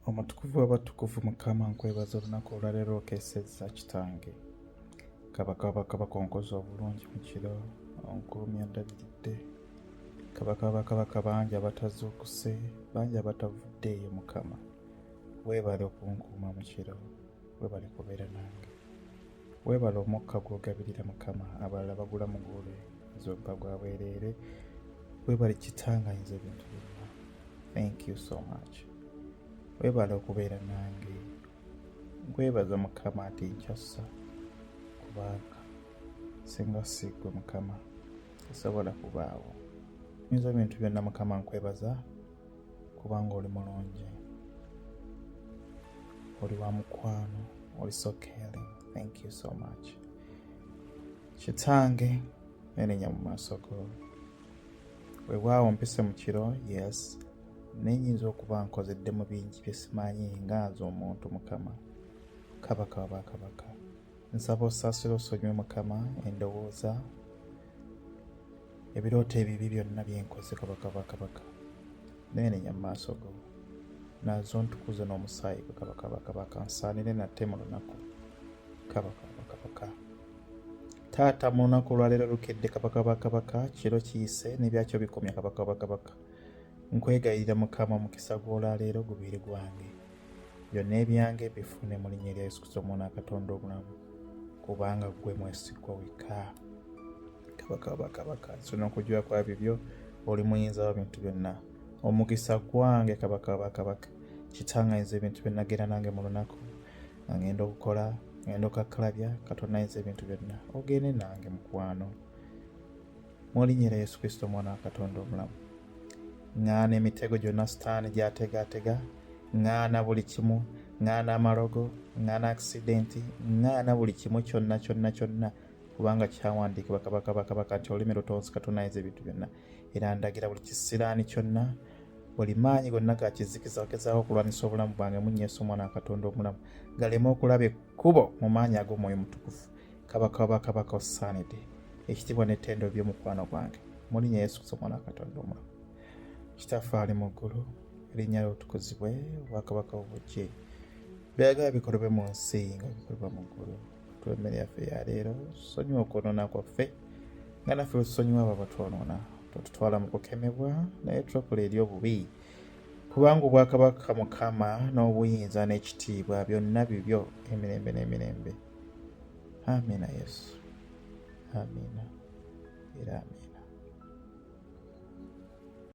Omutukuvu w'abatukuvu Mukama nkwebaza olunaku olwaleero okesezza kitange kabaka wabakabaka onkoze obulungi mu kiro onkuumi ondabiridde kabaka wabakabaka bangi abatazuukuse bangi abatavuddeeyo mukama weebale okunkuuma mu kiro weebale kubeera nange Weebale omukka gw'ogabirira Mukama, abalala bagula muguule zobba gwa bwereere. Weebale kitanganyiriza ebintu byonna. Thank you so much. Weebale okubeera nange. Nkwebaza Mukama ati nkyassa kubanga singa siggwe Mukama esobola kubaawo. Nyinza ebintu byonna Mukama nkwebaza kubanga oli mulungi oli wa mukwano oli so caring thank you so much kitange nenenya mu maaso go webwawo mpise mu kiro yes nenyinza okuba nkozeddemu bingi byesimanyi nga nze omuntu mukama kabaka wabakabaka nsaba osaasira osonyiwe mukama endowooza ebirooto ebibi byonna bye nkoze kabaka bwa kabaka neenenya mu maaso go nazo ntukuze n'omusaayi gwe kabaka bwa kabaka nsaanire nate mu lunaku kabaka bwa kabaka taata mu lunaku olwaleero lukedde kabaka bwa kabaka kiro kiyise n'ebyakyo bikomya kabaka bwa kabaka nkwegayirira mukama omukisa gw'olwaleero gubeere gwange byonna ebyange bifune mu linnya erya yesu kristo omwana wa katonda omulamu kubanga gwe mwesigwa wekka kabaka bakabaka nsona okujula kwa bibyo oli muyinza wa bintu byonna omukisa gwange kabaka bakabaka kitanga yinza ebintu byonnagera nange mu lunaku ngenda okukola ngenda okakkalabya katonda yinza ebintu byonna ogende nange mukwano mu linnya lya yesu kristo omwana wa katonda omulamu ŋŋaana emitego gyonna sitaani gyategaatega ŋŋaana buli kimu ŋŋaana amalogo ŋŋaana akisidenti ŋŋaana buli kimu kyonna kyonna kyonna kubanga kyawandiikibwa kabaka bakabaka nti olulimi lutonsi katunayiza ebintu byonna era ndagira buli kisiraani kyonna buli maanyi gonna gakizikiza ogezaako okulwanyisa obulamu bwange munyeesa omwana wakatonda omulamu galeme okulaba ekkubo mu maanyi ag'omwoyo mutukufu kabaka wabakabaka osaanidde ekitiibwa n'ettendo by'omukwano gwange mu linnya yesu kristo omwana katonda omulamu kitaffe ali mu ggulu erinnya lyotukuzibwe obwakabaka obujje byagala bikolebwe mu nsi nga bikolebwa mu ggulu tuwa emmere yaffe ya leero sonyiwa okwonoona kwaffe nga naffe bwetusonyiwa abo abatwonoona totutwala mu kukemebwa naye tulokola eri obubi kubanga obwakabaka mukama n'obuyinza n'ekitiibwa byonna bibyo emirembe n'emirembe ne Amina Yesu, amina era amina.